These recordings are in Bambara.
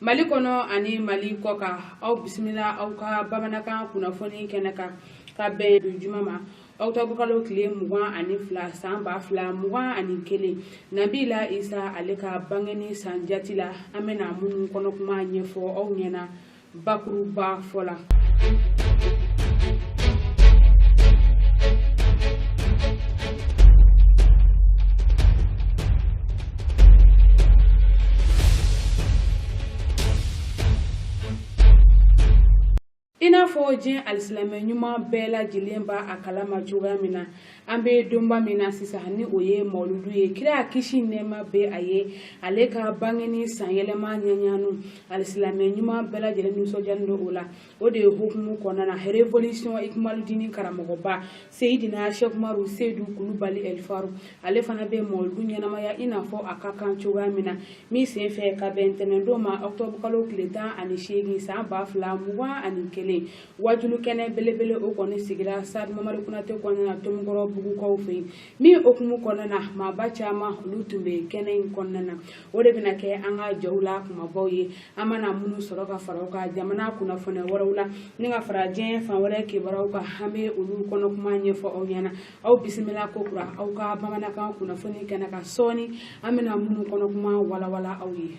mali kɔnɔ ani mali kɔkan aw bisimila aw ka bamanankan kunnafoni kɛnɛ kan ka bɛn don juma ma ɔkutɔburukalo tile mugan ani fila san ba fila mugan ani kelen nabila isa ale ka bangeni san jati la an bɛna minnu kɔnɔ kuma ɲɛfɔ aw ɲɛna bakuruba fɔ la i n'a fɔ diɲɛ alisilamɛ ɲuman bɛɛ lajɛlen b'a kalama cogoya min na an bɛ donba min na sisan ni o ye mawuludu ye kira kisi nɛɛma bɛ a ye ale ka bangeni sanyɛlɛma ɲɛɲanu alisilamɛ ɲuman bɛɛ lajɛlen nisɔndiyalen don o la o de ye hukumu kɔnɔna na révolution ikumaludini karamɔgɔba seyidina sɛkumaru seyidu kulubali ɛlifaru ale fana bɛ mawuludu ɲɛnamaya i n'a fɔ a ka kan cogoya min na min sen fɛ ka bɛn ntɛnɛndon ma ɔkutɔburukalo tile tan ani seegin san ba fila mugan ani kelen wajuli kɛnɛ belebele o kɔni sigira sitadi mamadu konate kɔnɔna na tomikɔrɔbugukaw fɛ yen min hukumu kɔnɔna na maaba caman olu tun bɛ kɛnɛ in kɔnɔna na o de bɛna kɛ an ka jaw la kumabaw ye an mana minnu sɔrɔ ka fara ka jamana kunnafoni wɛrɛw la ni ka fara diɲɛ fan wɛrɛ kibaruyaw kan an bɛ olu kɔnɔ kuma ɲɛfɔ aw ɲɛna aw bisimila ko kura aw ka bamanankan kunnafoni kɛnɛ kan sɔɔni an bɛna minnu kɔnɔ kuma walawala aw ye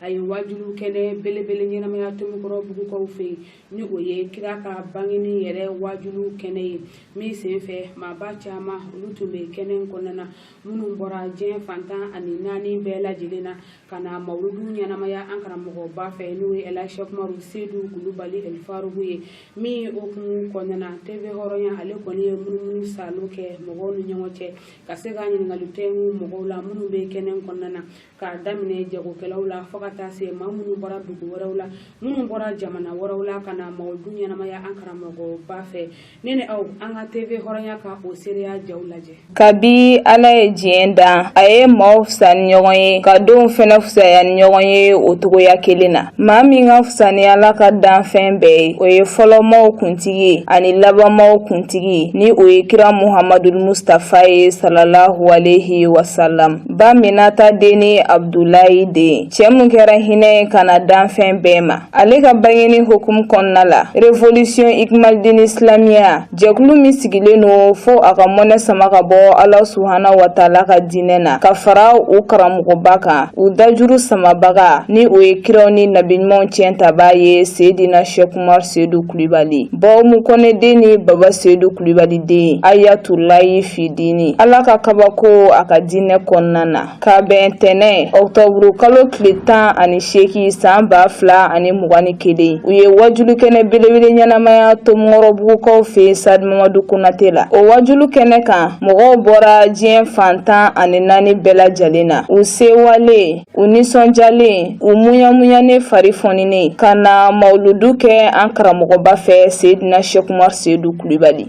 a ye wajuli kɛnɛ belebele ɲɛnamaya tomikɔrɔbugukaw fɛ yen ni o ye kira ka bangeni yɛrɛ wajuli kɛnɛ ye min sen fɛ maaba caman olu tun bɛ kɛnɛ in kɔnɔna na minnu bɔra diɲɛ fan tan ani naani bɛɛ lajɛlen na ka na mawuludu ɲɛnamaya an karamɔgɔba fɛ n'o ye ɛlasɛkumaru sedu kulubali ɛlifarugu ye min hukumu kɔnɔna na tv hɔrɔnya ale kɔni ye munumunusaalo kɛ mɔgɔw ni ɲɔgɔn cɛ ka se ka ɲininkali tɛngu mɔgɔw la minnu bɛ kɛnɛ kɔnɔna na k'a daminɛ jagokɛlaw la fo ka taa se maa minnu bɔra dugu wɛrɛw la minnu bɔra jamana wɛrɛw la ka na mawuludu ɲɛnamaya an karamɔgɔba fɛ ne ni aw an ka tv hɔrɔnya ka o seereya jaw lajɛ kabi ala ye diɲɛ dan a ye maaw fisa ni ɲɔgɔn ye ka donw fɛnɛ fusaya ni ɲɔgɔn ye o cogoya kelen na maa min ka fisa ni ala ka danfɛn bɛɛ ye o ye fɔlɔmaw kuntigi ye ani labanmaw kuntigi ni o ye kira muhamadul mustafa ye salalahu alehi wasalam ba minata den ni abdulayi den cɛ min kɛra hinɛ ye ka na danfɛn bɛɛ ma ale ka bangeni hukumu kɔnɔna la revolisiyɔn ikmalidini silamiya jɛkulu min sigilen don fo a ka mɔnɛ sama ka bɔ ala subhana wataala ka diinɛ na ka fara u karamɔgɔba kan u dajuru samabaga ni o ye kiraw ni nabiɲumanw tiɲɛtaba ye seedina shɛkumar seedu kulibali ba umu kɔnɛ den ni baba seedu kulibali den ayatulayi fidini ala ka kabako a ka diinɛ kɔnɔna na ka bɛn tɛnɛ ɔktɔburu kalo tile tan ani seegin san ba fila ani mugan ni kelen u ye wajulu kɛnɛ belebele ɲɛnamaya tomikɔrɔbugukaw fɛ stade mamadu konate la o wajulu kɛnɛ kan mɔgɔw bɔra diɲɛ fan tan ani naani bɛɛ lajɛlen na u sewalen u nisɔndiyalen u muɲamuɲanen fari fɔninen ka na mawuludu kɛ an karamɔgɔba fɛ seidina sekumar seidu kulibali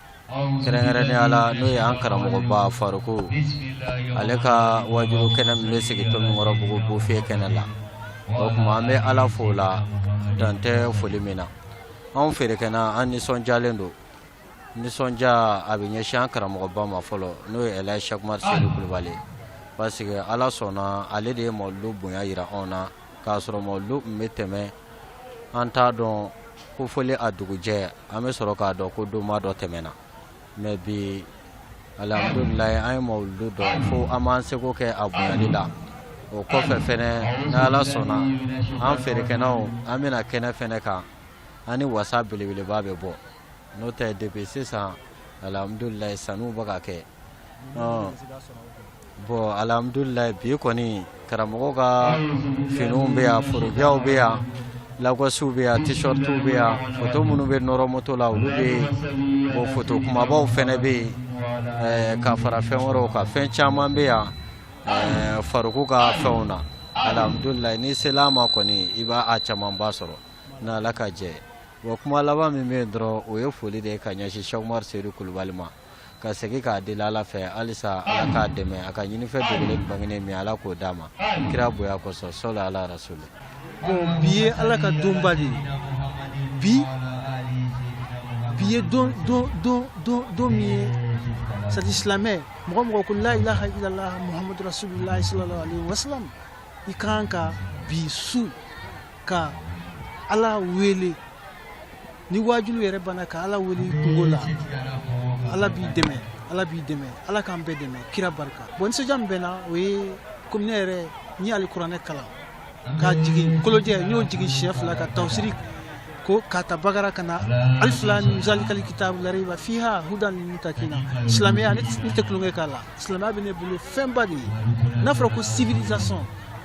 kɛrɛnkɛrɛnnenya la n'o ye an karamɔgɔba faruko ale ka wajulu kɛnɛ min bɛ sigi tomikɔrɔbugu buviye kɛnɛ la o tuma an bɛ ala fo la dan tɛ foli min na anw feerekɛna an nisɔndiyalen don nisɔndiya a bɛ ɲɛsin an karamɔgɔba ma fɔlɔ n'o ye ɛlaji sɛkumar seidu kulubali parce que ala sɔnna ale de ye mawuludu bonya yira anw na k'a sɔrɔ mawuludu tun bɛ tɛmɛ an t'a dɔn ko foli a dugujɛ an bɛ sɔrɔ k'a dɔn ko donba dɔ tɛmɛna mais bi alihamudulilayi an ye mawuludu dɔn fo an b'an seko kɛ a bonyali la o kɔfɛ fɛnɛ ni ala sɔnna an feerekɛnaw an bɛna kɛnɛ fɛnɛ kan an ni wasa belebeleba bɛ bɔ n'o tɛ depuis sisan alhamdulilayi sanniw bɛ ka kɛ ɔ bon alhamdulilayi bi kɔni karamɔgɔ ka finiw bɛ yan forokiyaw bɛ yan lakɔsiw bɛ yan t-shirtiw bɛ yan foto minnu bɛ nɔrɔ moto la olu bɛ yen bon foto kumabaw fana bɛ yen eh, ka fara fɛn wɛrɛw kan fɛn caman bɛ yan eh, faruku ka fɛnw na alhamdulilayi n'i sela a ma kɔni i b'a a camanba sɔrɔ n'ala ka jɛ ye Wa kuma laban min bɛ yen dɔrɔn o ye foli de ye ka ɲɛsin Sɛkumaru Sedu Kulubali ma ka segin k'a deli Ala fɛ halisa Ala k'a dɛmɛ a ka ɲinifɛn dogolen bangenen min Ala k'o d'a ma kira bonya kosɔn sali Ala rasuli. Bon bi ye Ala ka donba de ye bi ye don min ye c'est silamɛ mɔgɔ o mɔgɔ ko la ilaha illallah muhamadu rasulullah sallallahu alaihi wasallam i kan ka bi su ka ala wele ni wajulu yɛrɛ banna ka ala wele kunko la ala b'i dɛmɛ ala b'i dɛmɛ ala k'an bɛɛ dɛmɛ kira barika bon nisɔndiya min bɛ n na o ye komi ne yɛrɛ n ye alikuranɛ kalan ka jigin kolojɛ n y'o jigin siɲɛ fila ka tawusiri ko k'a ta bagara ka na alifu lamu mi zalikali kitabu la rayiba fiha hudan lil mutakina silamɛya ne tɛ tulonkɛ k'a la silamɛya bɛ ne bolo fɛnba de ye n'a fɔra ko civilisation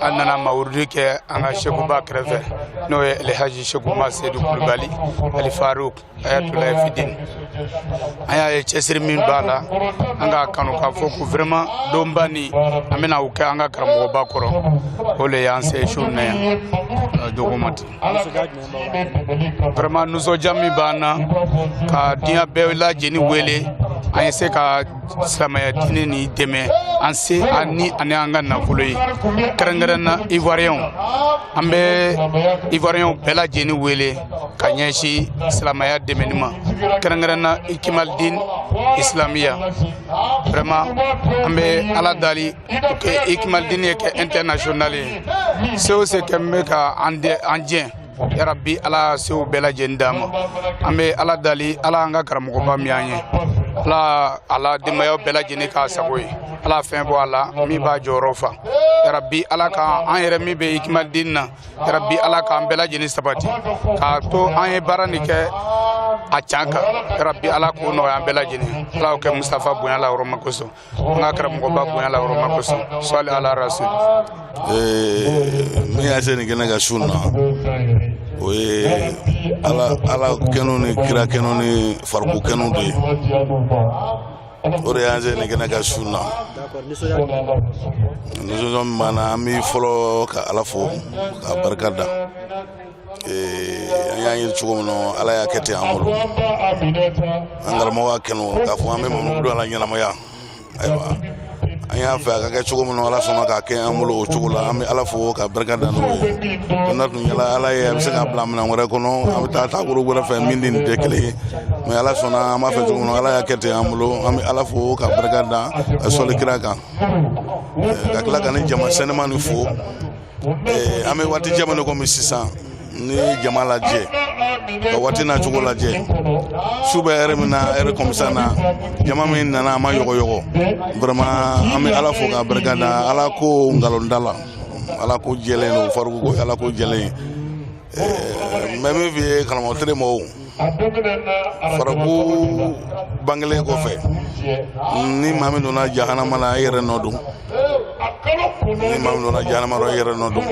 an nana mawurudi kɛ an ka sekuba kɛrɛfɛ n'o ye alhaji seku umaru sedu kulubali al faruk ayatulahi fidin an y'a ye cɛsiri min b'a la an k'a kanu k'a fɔ ko vraiment donba nin an bɛna o kɛ an ka karamɔgɔba kɔrɔ o le y'an se su na yan dogomati vraiment nisɔndiya min b'an na ka diɲɛ bɛɛ lajɛlen wele an ye se ka silamɛya diinɛ nin dɛmɛ an se ani ani an ka nafolo ye kɛrɛnkɛrɛn na ivoiriyɛnw an bɛ ivoiriyɛnw bɛɛ lajɛlen wele ka ɲɛsin silamɛya dɛmɛni ma kɛrɛnkɛrɛn na ikimalidin isilamiya vraiment an bɛ ala dali que ikimalidin ye kɛ international ye se o se kɛ min bɛ ka an jɛ yarabi ala sew bɛɛ lajɛlen d'an ma an bɛ ala dali ala an ka karamɔgɔba min an ye ala a la denbayaw bɛɛ lajɛlen k'a sago ye ala fɛn bɔ a la min b'a jɔyɔrɔ fa yarabi ala ka an yɛrɛ min bɛ ikimalidin na yarabi ala k'an bɛɛ lajɛlen sabati k'a to an ye baara nin kɛ a can kan yarabi ala k'o nɔgɔya an bɛɛ lajɛlen ala y'o kɛ mustafa bonya ala yɔrɔ ma kosɔn an ka karamɔgɔba bonya ala yɔrɔ ma kosɔn sɔli ala rasul min y'an se nin kɛnɛ kan su in na o ye ala ala kanu ni kira kanu ni faruku kanu de ye o de y'an se nin kɛnɛ kan su in na nisɔndiya min b'an na an bɛ fɔlɔ ka ala fo k'a barika da an y'a ɲini cogo min na ala y'a kɛ ten an bolo an karamɔgɔ y'a kɛnɛ k'a fɔ an bɛ mamu don a la ɲɛnamaya ayiwa an y'a fɛ a ka kɛ cogo min na ala sɔnna k'a kɛ an bolo o cogo la an bɛ ala fo ka barika da n'o ye n'a tun diyalen ala ye a bɛ se k'an bila minɛn wɛrɛ kɔnɔ an bɛ taa taabolo wɛrɛ fɛ min ni nin tɛ kelen ye mais ala sɔnna an b'a fɛ cogo min na ala y'a kɛ ten an bolo an bɛ ala fo ka barika da ka sɔli kira kan ka tila ka nin jama sanuman nin fo ee, an bɛ waati jumɛn na komi sisan ni jama lajɛ ka waati na cogo lajɛ su bɛ heure min na heure comme ça na jama min nana a ma yɔgɔyɔgɔ vraiment an bɛ ala fo k'a barika da ala ko nkalon t'a la ala ko jɛlen don faruku ko ala ko jɛlen mais min fi ye karamɔgɔtiri ma faruku bangelen kɔfɛ ni maa min donna jahanama na i yɛrɛ nɔ don ni maa min donna jahanama i yɛrɛ nɔ don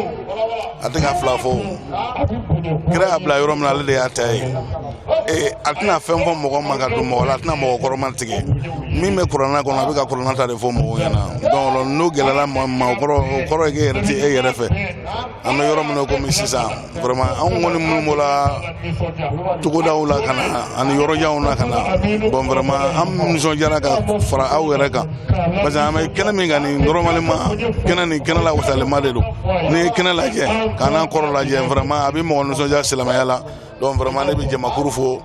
a tɛ ka fila fɔ kira y'a bila yɔrɔ min na ale de y'a ta ye ee a tɛna fɛn fɔ mɔgɔ ma ka don mɔgɔ la a tɛna mɔgɔ kɔrɔma tigɛ min bɛ kuranɛ kɔnɔ a bɛ ka kuranɛ ta de fɔ mɔgɔw ɲɛna donc n'o gɛlɛyara mɔgɔ ma o kɔrɔ o kɔrɔ ye k'e yɛrɛ tɛ e yɛrɛ fɛ an bɛ yɔrɔ min na komi sisan vraiment anw kɔni minnu bɔra togodaw la ka na ani yɔrɔjanw na ka na bon vraiment an nisɔndiyara ka fara aw yɛrɛ kan parce que an bɛ kɛnɛ min kan nin normalement kɛnɛ nin kɛnɛ lawasalenba de don n'i ye kɛnɛ lajɛ k'an n'an kɔrɔ lajɛ vraiment a bɛ mɔgɔ nisɔndiya silamɛya la donc vraiment ne bɛ jamakuru fo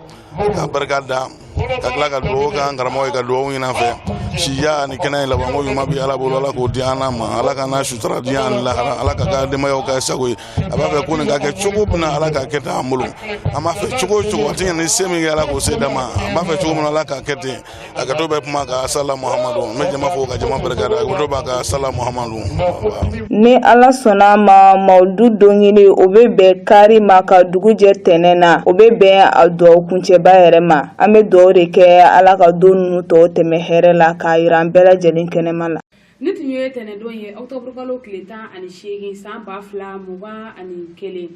ka barika da ka tila ka dugawu k'an karamɔgɔ ye ka dugawu ɲini an fɛ si ani kɛnɛya labanko ɲuman bi ala bolo ala k'o di an ma ala k'an sutura diɲɛ ani lahara ala k'a ka denbayaw k'a sago ye a b'a fɛ ko nin ka kɛ cogo min na ala k'a kɛ ten an bolo an b'a fɛ cogo o cogo a tɛ ɲɛ ni se min tɛ ala k'o se d'a ma an b'a fɛ cogo min na ala k'a kɛ ten a gato bɛ kuma ka sala muhamadu n bɛ jama fo ka jama barika da a gato b'a ka sala muhamadu ni ala sɔnna a ma mawuludu denkundi o bɛ bɛn kari ma ka dugu jɛ tɛnɛ na o bɛ bɛn a dugawu kuncɛba yɛrɛ ma an bɛ dugawu de kɛ ala ka don ninnu tɔw tɛmɛ hɛrɛ la k'a yira an bɛɛ lajɛlen kɛnɛma la nin tun ye tɛnɛdon ye octobre kalo tile tan ani seegin san ba fila mugan ani kelen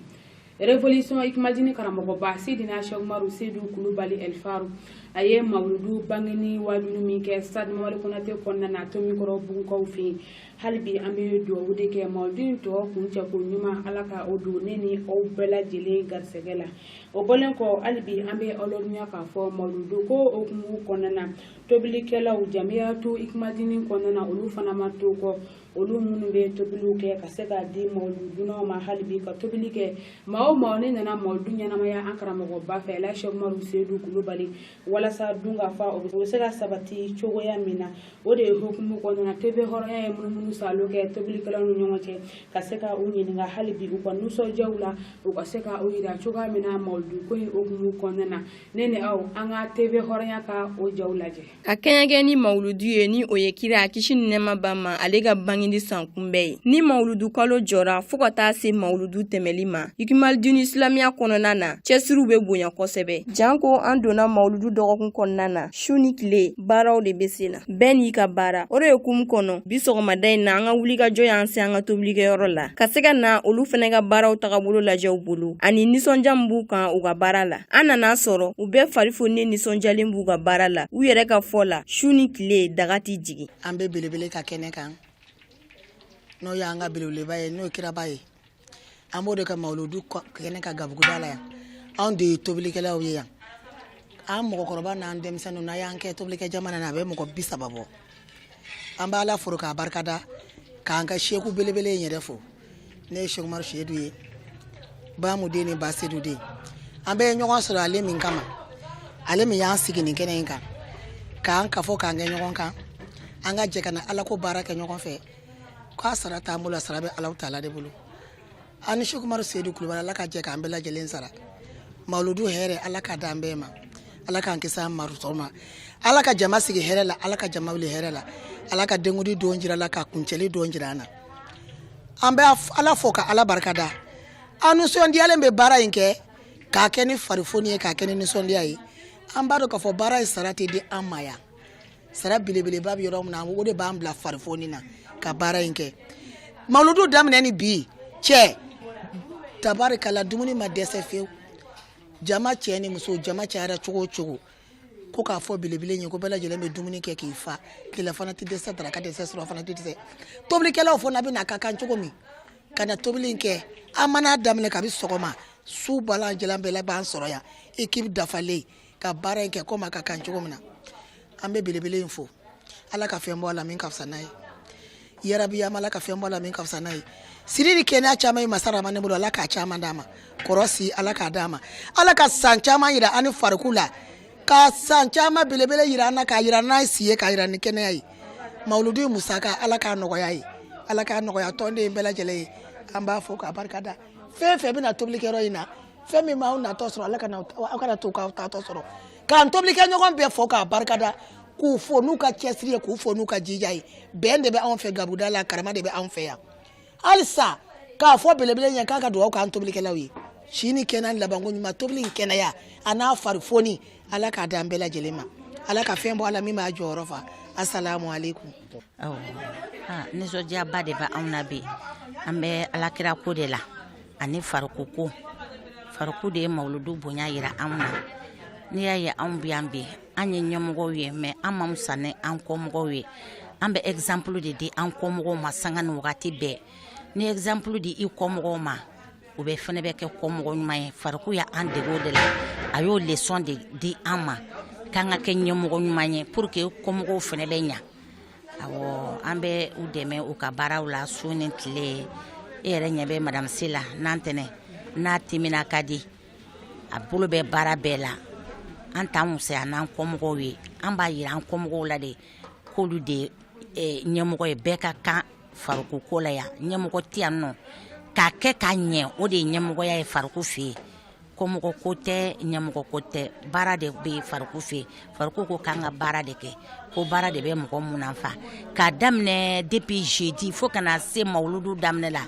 révolution hikimadini karamɔgɔba sidina sɛkumaru seyidu kulubali ɛlifaru a ye mawuludu bangeni waajuli min kɛ stade mamadu konate kɔnɔna na tomikɔrɔbugukaw fɛ yen hali bi an bɛ duwawu de kɛ mawuludu in tɔ kuncɛko ɲuman ala ka o don ne ni aw bɛɛ lajɛlen garisɛgɛ la o bɔlen kɔ hali bi an bɛ aw ladɔnniya k'a fɔ mawuludu ko hukumu kɔnɔna na tobilikɛlaw jamiyatu hikimadini kɔnɔna na olu fana ma to kɔ olu minnu bɛ tobiliw kɛ ka se k'a di mawuludunaw ma hali bi ka tobili kɛ maa o maa n'i nana mawuludu ɲɛnamaya an karamɔgɔba fɛ sɛku umaru seyidu kulubali walasa dunkafa o bɛ se ka sabati cogoya min na o de ye hukumu kɔnɔna tv hɔrɔnya ye munumunu salo kɛ tobilikɛlaw ni ɲɔgɔn cɛ ka se ka u ɲininka hali bi u ka nisɔndiyaw la u ka se ka u yira cogoya min na mawuludu ko in hukumu kɔnɔna na ne ni aw an ka tv hɔrɔnya ka o jaw lajɛ ka kɛɲɛkɛ ni mawuludu ye ni o ye kira a kisi ni nɛɛma b'a ma ale ka bangeni san kunbɛn ye ni mawuludu kalo jɔra fɔɔ ka taa se mawuludu tɛmɛli ma hikimadini isilamiya kɔnɔna na cɛsiriw be bonya kosɛbɛ janko an donna mawuludu dɔgɔkun kɔnɔna na su ni tile baaraw de be sen na bɛɛ n'i ka baara o de ye hukumu kɔnɔ bi sɔgɔmada in na an ka wulikajɔ y'an se an ka tobilikɛyɔrɔ la ka se ka na olu fɛnɛ ka baaraw tagabolo lajɛ u bolo ani nisɔndiya min b'u kan u ka baara la an nana sɔrɔ u bɛɛ fari fonnen nisɔndiyalen b'u ka baara la u yɛrɛ ka fɔ la su ni tile daga tɛ jigin an bɛ belebele ka kɛnɛ kan n'o y'an ka belebeleba ye n'o kiraba ye an b'o de ka mawuludu kɛnɛ kan gabuguda la yan anw de ye tobilikɛlaw ye yan an mɔgɔkɔrɔba n'an denmisɛnninw n'an y'an kɛ tobilikɛ jamana na a bɛ mɔgɔ bi saba bɔ an b'ala fo k'a barikada k'an ka sɛku belebele in yɛrɛ fo n'o ye sɛkumaru seyidu ye ba mu den ni ba seyidu den an bɛɛ ye ɲɔgɔn sɔrɔ ale min kama ale min y'an sigi nin kɛnɛ in kan k'an kafo k'an kɛ ɲɔgɔn kan an ka jɛ ka na alako baara kɛ ɲɔgɔn fɛ k'a sara t'an bolo a sara bɛ alahu taala de bolo an ni sɛkumaru seyidu kulubali ala ka jɛ k'an bɛɛ lajɛlen sara mawuludu hɛrɛ ala k'a d'an bɛɛ ma ala k'an kisi a mantɔɔrɔ ma ala ka jama sigi hɛrɛ la ala ka jama wuli hɛrɛ la ala ka denkundi don jira an na ka kuncɛli don jira an na an bɛ ala fo ka ala barika da an nisɔndiyalen bɛ baara in kɛ k'a kɛ ni farifoni ye k'a kɛ ni nisɔndiya ye an b'a dɔn k'a fɔ baara in sara tɛ di an ma yan sara belebeleba bɛ yɔrɔ min na o de b'an bila farifoni na ka baara in kɛ mawuludu daminɛ ni bi cɛ tabarikala dumuni ma dɛsɛ fewu jama cɛ ni muso jama cayara cogo o cogo ko k'a fɔ belebele ye ko bɛɛ lajɛlen bɛ dumuni kɛ k'i fa tilelafana tɛ dɛsɛ daraka tɛ dɛsɛ surɔfana tɛ dɛsɛ tobilikɛlaw fana bɛ na a ka kan cogo min ka na tobili in kɛ an mana a daminɛ kabi sɔgɔma su bɛɛ lajɛlen b'an sɔrɔ yan ekipu dafalen ka baara in kɛ komi a ka kan cogo min na an bɛ belebele in fo ala ka fɛn bɔ a la min ka fisa n'a ye yarabi an b'ala ka fɛn bɔ a la min ka fisa n'a ye siri ni kɛnɛya caman ye masa ramani bolo ala k'a caman d'a ma kɔrɔsi ala k'a d'a ma ala ka san caman yira an ni fariku la ka san caman belebele yira an na k'a yira n'a ye si ye k'a yira ni kɛnɛya ye mawuludu musaka ala k'a nɔgɔya ye ala k'a nɔgɔya tɔnden bɛɛ lajɛlen ye an b'a fo k'a barika da fɛn fɛn bɛ na tobilikɛyɔrɔ in na fɛn min m'aw natɔ sɔrɔ ala kana aw kana to k'aw taatɔ sɔrɔ k'an tobilikɛɲɔgɔn bɛɛ fo k'a barika da k'u fo n'u ka cɛsiri ye k'u fo n'u ka jija ye bɛn de bɛ anw fɛ gabuda la karama de bɛ anw fɛ yan halisa k'a fɔ belebele ye k'a ka dugawu k'an tobilikɛlaw ye si ni kɛnɛya labanko ɲuman tobili in kɛnɛya a n'a farifoni ala k'a d'an bɛɛ lajɛlen ma ala ka fɛn bɔ a la min b'a jɔyɔrɔ fa asalamu aleykum aw nisɔndiyaba de bɛ anw na bi an bɛ alakira ko de la ani fariku ko fariku de ye mawuludu bonya yira anw na n'i y'a ye anw bi yan bi an ye ɲɛmɔgɔw ye mɛ an ma fisa ni an kɔmɔgɔw ye an bɛ ɛgizanpulu de di an kɔmɔgɔw ma sanga ni wagati bɛɛ ni ɛgizanpulu di i kɔmɔgɔw ma u bɛ fɛnɛ bɛ kɛ kɔmɔgɔ ɲuman ye fariku y'an dege o de la a y'o lesɔn de di an ma k'an ka kɛ ɲɛmɔgɔ ɲuman ye pour que kɔmɔgɔw fɛnɛ bɛ ɲɛ awɔ an bɛ u dɛmɛ u ka baaraw la su ni tile e yɛrɛ ɲɛ bɛ madamu Sila n'an tɛnɛ n'a timina ka di a bolo bɛ baara bɛɛ la an t'an fisaya n'an kɔmɔgɔw ye an b'a yira an kɔmɔgɔw la de k'olu de ɲɛmɔgɔ ye bɛɛ ka kan Fariku ko la yan ɲɛmɔgɔ tɛ yan nɔ k'a kɛ ka ɲɛ o de ye ɲɛmɔgɔya ye fariku fɛ yen kɔmɔgɔ ko tɛ ɲɛmɔgɔ ko tɛ baara de bɛ fariku fɛ yen fariku ko k'an ka baara de kɛ ko baara de bɛ mɔgɔ munafa k'a daminɛ depuis jeudi fo ka na se mawuludu daminɛ la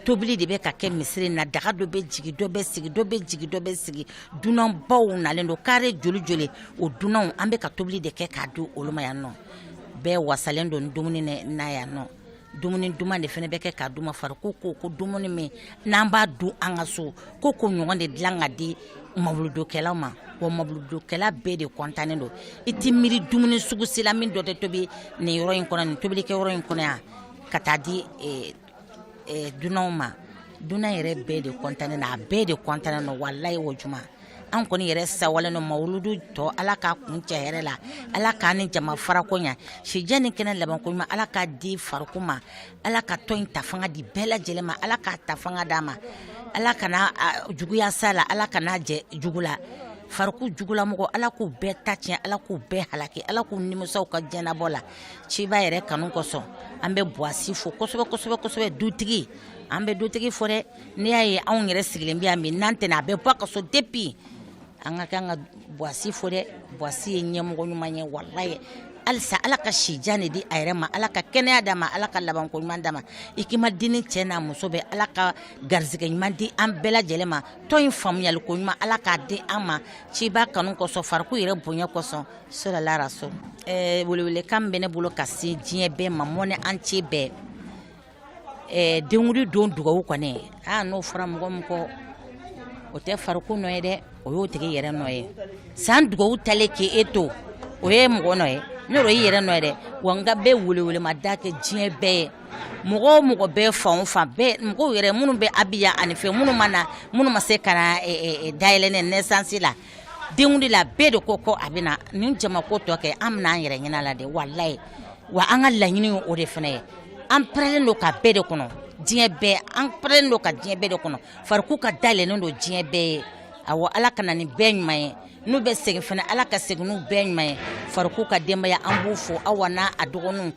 tobili de bɛ ka kɛ misiri na daga dɔ bɛ jigi dɔ bɛ sigi dɔ bɛ jigi dɔ bɛ sigi dunanbaw nalen don kari joli joli o dunanw an bɛ ka tobili de kɛ k'a di olu ma yan nɔ bɛɛ wasalen don dumuni na yan nɔ dumuni duman de fana bɛ kɛ k'a d'u ma fariko ko ko dumuni min n'an b'a dun an ka so ko ko ɲɔgɔn de dilan ka di mawuludokɛlaw ma wa mawuludokɛla bɛɛ de kɔntannen don i tɛ miiri dumuni sugu si la min dɔ tɛ tobi nin yɔrɔ in kɔnɔ nin tobilikɛyɔrɔ in kɔnɔ yan ka taa di eh, eh, dunanw ma dunan yɛrɛ bɛɛ de kɔntannen don a bɛɛ de kɔntannen don walayi o juma an kɔni yɛrɛ sawalen don mawuludu tɔ ala k'a kuncɛ hɛrɛ la ala k'a ni jama farako ɲa sijan ni kɛnɛya labanko ɲuman ala k'a di fariko ma ala ka tɔn in ta fanga di bɛɛ lajɛlen ma ala k'a ta fanga d'a ma ala kana juguya s'a la ala kana jɛ jugu la fariku jugulamɔgɔ ala k'u bɛɛ ta tiɲɛ ala k'u bɛɛ halaki ala k'u nimisa u ka jɛnɛbɔ la ciba yɛrɛ kanu kosɔn an bɛ buwasi fo kosɛbɛ kosɛbɛ kosɛbɛ dutigi an bɛ dutigi fo dɛ n'i y'a ye anw yɛrɛ sigilen bɛ yan bi n'an tɛna a bɛ bɔ a ka so depuis an ka kan ka buwasi fo dɛ buwasi ye ɲɛmɔgɔ ɲuman ye walayi halisa ala ka sijan de di a yɛrɛ ma ala ka kɛnɛya d'a ma ala ka labanko ɲuman d'a ma ikimalidini cɛ n'a muso bɛɛ ala ka garisɛgɛ ɲuman di an bɛɛ lajɛlen ma tɔn in faamuyaliko ɲuman ala k'a di an ma ciba kanu kosɔn fariko yɛrɛ bonya kosɔn salu ala rasulu eh, welewelekan bɛ ne bolo ka se diɲɛ bɛɛ ma monde entier bɛɛ eh, denwuli don dugawu kɔni n'o fɔra mɔgɔ min kɔ o tɛ fariko nɔ ye dɛ o y'o tigi yɛrɛ nɔ ye san dugawu talen k'e to o ye mɔgɔ nɔ ye ne yɛrɛ y'i yɛrɛ nɔ ye dɛ wa n ka bɛɛ welewelema da kɛ diɲɛ bɛɛ ye mɔgɔ o mɔgɔ bɛɛ fan o fan bɛɛ mɔgɔw yɛrɛ minnu bɛ abijan ani fɛn minnu ma na minnu ma se ka na eh, eh, dayɛlɛ ni naissance la denwuli la bɛɛ de ko ko a bɛ na nin jama ko tɔ kɛ an bɛna an yɛrɛ ɲɛna la de walayi wa an ka laɲini ye o de fana ye an parelen don ka bɛɛ de kɔnɔ diɲɛ bɛɛ an parelen don ka diɲɛ bɛɛ de kɔnɔ fariku ka da yɛlɛnnen don diɲɛ bɛɛ ye awɔ ala ka na ni bɛɛ ɲuman ye n'u bɛ segin fana ala ka segin n'u bɛɛ ɲuman ye fariku ka denbaya an b'u fo awa n'a dɔgɔninw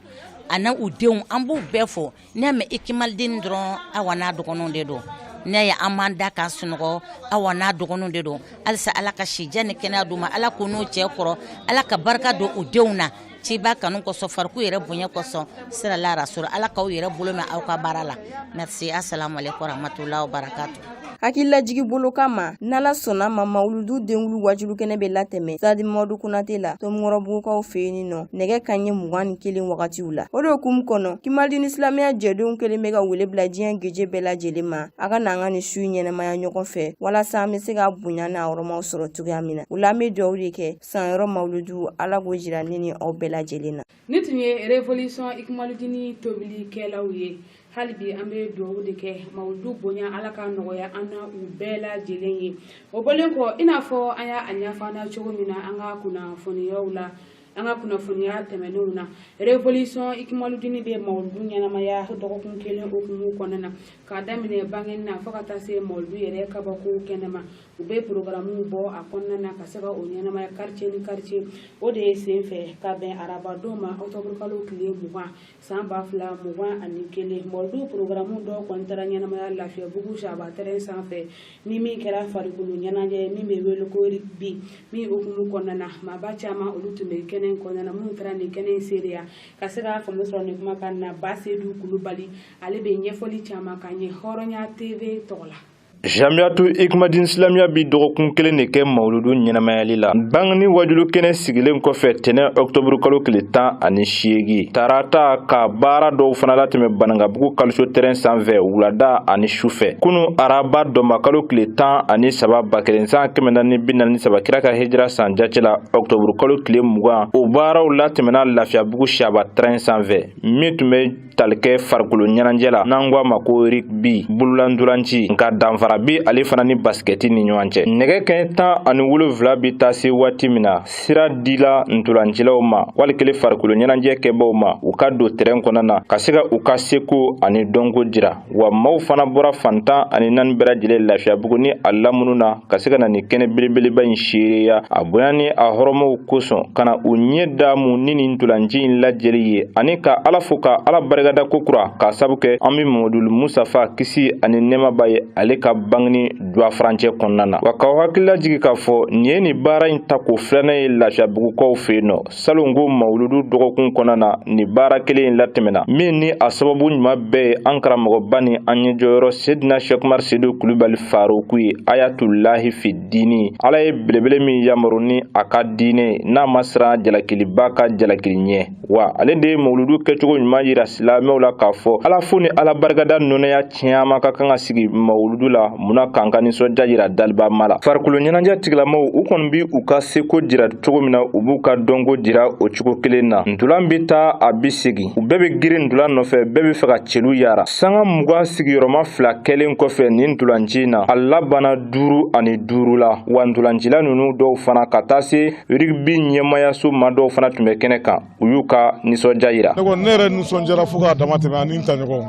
an'u denw an b'u bɛɛ fo N'i y'a mɛn ikimalidini dɔrɔn awa n'a dɔgɔninw de don n'i y'a ye an b'an da k'an sunɔgɔ awa n'a dɔgɔninw de don halisa ala ka sijan ni kɛnɛya d'u ma ala k'u n'u cɛ kɔrɔ ala ka barika don u denw na ciba kanu kɔsɔn fariku yɛrɛ bonya kɔsɔn salu ala rasulu ala k'aw yɛrɛ bolo mɛɛn aw ka baara la merci assalamu alaikum warahmatullahi wabarakatuh hakililajigi bolo kama n'ala sɔnna a ma mawuludu denwuli waajuli kɛnɛ bɛ latɛmɛ sadi madu kunate la tomukɔrɔbugukaw fɛ yen nɔ nɛgɛkanɲɛ mugan ni kelen wagatiw la o de hukumu kɔnɔ kimalidini silamɛya jɛdenw kɛlen bɛ ka wele bila diɲɛ geje bɛɛ lajɛlen ma a ka n'an ka nin su ɲɛnamaya ɲɔgɔn fɛ walasa an bɛ se k'a bonya n'a hɔrɔmaw sɔrɔ cogoya min na o la an bɛ dugawu de kɛ san yɔrɔ mawuludu ala k'o jira ne ni aw bɛɛ lajɛlen na nin tun ye revolisɔn ikimaludini tobilikɛlaw ye hali bi an bɛ dugawu de kɛ mawuludu bonya ala ka nɔgɔya an n'aw bɛɛ lajɛlen ye o bɔlen kɔ i n'a fɔ an y'a ɲɛfɔ an na cogo min na an ka kunnafoniyaw la an ka kunnafoniya tɛmɛnenw na revolisɔn ikimaludini bɛ mawuludu ɲɛnamaya dɔgɔkun kelen hukumu kɔnɔna na k'a daminɛ bangeni na fo ka taa se mawuludu yɛrɛ kabako kɛnɛ ma u bɛ porokaramu bɔ a kɔnɔna na ka se ka o ɲɛnamaya karitiye ni karitiye o de ye sen fɛ ka bɛn arabadon ma ɔkutɔburukalo tile mugan san ba fila mugan ani kelen mawuludu porokaramu dɔw kɔni taara ɲɛnamaya lafiyabugu shaba tɛrɛn sanfɛ ni min kɛra farikolo ɲɛnajɛ min bɛ wele ko rigbi min hukumu kɔnɔna na maaba caman olu tun bɛ kɛnɛ kɔnɔna na minnu taara nin kɛnɛ seereya ka se ka faamu sɔrɔ nin kumakan na basedu kulubali ale bɛ ɲɛfɔli caman k'an ye hɔrɔnya teve tɔgɔ la Jamiyatu Ikmadin Silamiya bi dɔgɔkun kelen de kɛ mawuludu ɲɛnamayali la. Bangini waajuli kɛnɛ sigilen kɔfɛ tɛnɛ ɔkutɔburu kalo tile tan ani seegin tarata ka baara dɔw fana latɛmɛ Banankabugu kalisiyo tɛrɛn sanfɛ wulada ani sufɛ. Kunu araba dɔnbakalo tile tan ani saba ba kelen san kɛmɛ naani ni bi naani ni saba kira ka hijira san jate la ɔkutɔburu kalo tile mugan o baaraw latɛmɛna Lafiyabugu Shaba tɛrɛn sanfɛ min tun bɛ tali kɛ farikolo ɲɛnajɛ la n'an ko a ma ko rigbi bolola ntolanci nka danfara be ale fana ni basikɛti ni ɲɔgɔn cɛ nɛgɛ kɛɲɛ tan ani wolonfila be taa se waati min na sira dila ntolancilaw ma wali kelen farikolo ɲɛnajɛ kɛbaaw ma u ka don tɛrɛn kɔnɔna na ka se ka u ka seko ani dɔnko jira wa maaw fana bɔra fan tan ani naani bɛɛ lajɛlen lafiyabugu ni a lamunu na ka se ka na nin kɛnɛ belebeleba in seereya a bonya ni a hɔrɔmaw kosɔn ka na u ɲɛ daamu ni nin ntolanci in lajɛli ye ani ka ala fo ka ala barikada kokura k'a sabu kɛ annabi mamadulu musutafa kisi ani nɛɛma b'a ye ale ka bangini duwa furancɛ kɔnɔna na wa k'aw hakili lajigin k'a fɔ nin ye nin baara in tako filanan ye lafiyabugukaw fɛ yen nɔ salon ko mawuludu dɔgɔkun kɔnɔna na nin baara kelen in latɛmɛna min ni a sababu ɲuman bɛɛ ye an karamɔgɔba ni an ɲɛjɔyɔrɔ sedina shɛki umar sedu kulubali faroku ye ayatulahi fi dini ala ye belebele min yamaru ni a ka diinɛ n'a ma siran jalakilibaa ka jalakili ɲɛ wa ale de ye mawuludu kɛcogo ɲuman yira silamɛw la k'a fɔ ala fo ni ala barikada nɔnɛya caman ka kan ka sigi mawuludu la munna k'an ka nisɔndiya jira dalibama la farikolo ɲɛnajɛ tigilamaw u kɔni bi u ka seko jira cogo min na u b'u ka dɔnko jira o cogo kelen na ntulan bi taa a bi segin u bɛɛ bɛ girin ntulan nɔfɛ bɛɛ b'a fɛ ka celu yara sanga mugan sigiyɔrɔma fila kɛlen kɔfɛ nin ntulanci in na a labanna duuru ani duuru la wa ntulancila ninnu dɔw fana ka taa se rigbi ɲɛmayaso ma dɔw fana tun bɛ kɛnɛ kan u y'u ka nisɔndiya yira ne yɛrɛ nisɔndiyara fo k'a dama tɛmɛ ani n taɲɔgɔnw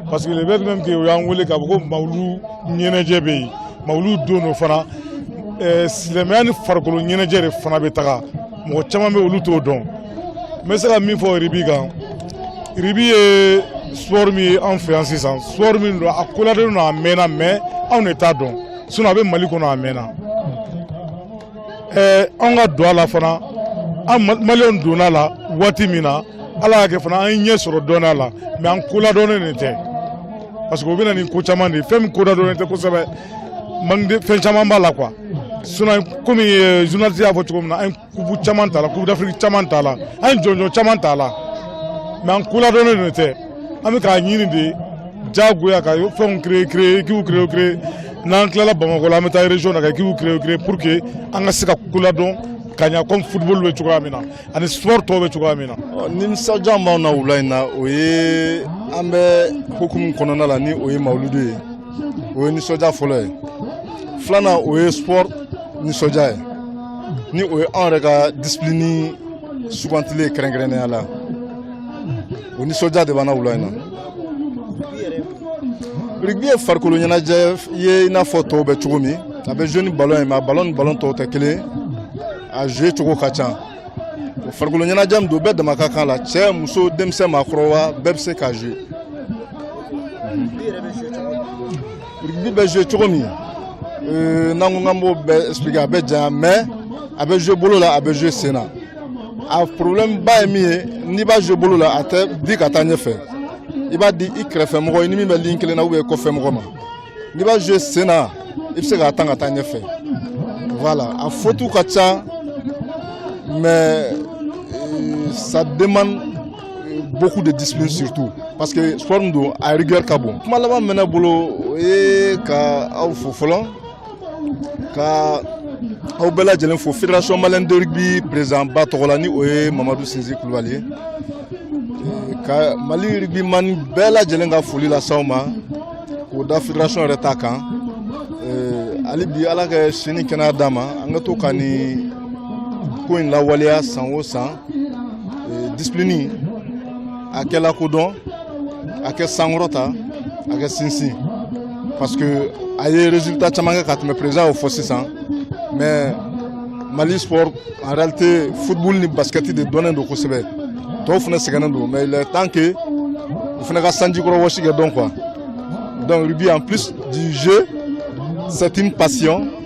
parce que le fait même que u y'an wele k'a fɔ ko mawuludu ɲɛnajɛ bɛ yen mawuludu don don fana eh, silamɛya ni farikolo ɲɛnajɛ de fana bɛ taga mɔgɔ caman bɛ olu t'o dɔn n bɛ se ka min fɔ rugby kan rugby ye sport min ye an fɛ yan sisan sport min don a koladɔnnen don a mɛnna mais anw de t'a dɔn sinon a bɛ mali kɔnɔ a mɛnna an ka don a la fana an maliens donna a la waati min na ala y'a kɛ fana an ye ɲɛ sɔrɔ dɔɔnin a la mais an koladɔnnen de tɛ parce que o bɛ na ni ko caman de ye fɛn min koladɔnnen tɛ kosɛbɛ fɛn caman b'a la quoi sinon komi euh, journaliste y'a fɔ cogo min na an ye coupe caman t'a la coupe d'afrique caman t'a la an ye jɔnjɔn caman t'a la mais an koladɔnnen de tɛ an bɛ k'a ɲini de jagoya ka fɛnw créer créer équipes créer créer n'an tilala Bamakɔ la an bɛ taa région na ka équipes créer créer pour que an ka se ka koladɔn ka ɲa comme football bɛ cogoya min na ani sport tɔw bɛ cogoya min na. Nisɔndiya min b'anw na wula in na o ye an bɛ hukumu kɔnɔna la ni o ye mawuludu ye o ye nisɔndiya fɔlɔ ye filanan o ye sport nisɔndiya ye ni o ye anw yɛrɛ ka discipline sugandilen ye kɛrɛnkɛrɛnnenya la. o nisɔndiya de b'an na wula in na rugby ye farikolo ɲɛnajɛ ye i n'a fɔ tɔw bɛ cogo min a bɛ jouer ni ballon ye mais a ballon ni ballon tɔw tɛ kelen ye a jouer cogo ka ca o farikolo ɲɛnajɛ min don bɛɛ dama ka kan la cɛ muso denmisɛn maakɔrɔba bɛɛ bɛ se k'a jouer Rugby bɛ jouer cogo min euh, n'an ko k'an b'o bɛɛ expliquer a bɛ janya mais a bɛ jouer bolo la a bɛ jouer sen na a problème ba ye min ye n'i b'a jouer bolo la a tɛ di ka taa ɲɛfɛ i b'a di i kɛrɛfɛ mɔgɔ i ni min bɛ ligne kelen na ou bien kɔfɛ mɔgɔ ma n'i b'a jouer sen na i bɛ se k'a tan ka taa ɲɛfɛ voilà a fautes ka ca mais euh, ça demande beaucoup de discipline surtout parce que sport min don a rigueur ka bon kuma laban min bɛ ne bolo o ye ka aw fo fɔlɔ ka aw bɛɛ lajɛlen fo fédération malienne de rugby président ba tɔgɔ la ni o ye mamadu sinzi kulubali ye ka mali rugbyman bɛɛ lajɛlen ka foli las'aw ma k'o da fédération yɛrɛ ta kan hali bi ala ka si ni kɛnɛya d'a ma an ka to ka nin ko in lawaleya san o san Eh, discipline a ka lakodɔn a ka sankɔrɔta a ka sinsin parce que a ye résultat caman kɛ ka tɛmɛ président y'o fɔ sisan mais mali sport en réalité football ni basket de dɔnnen don kosɛbɛ tɔw fana sɛgɛnnen don mais il est temps que u fana ka sanji kɔrɔ wɔsi ka dɔn quoi donc rugby en plus du jeu c'est une passion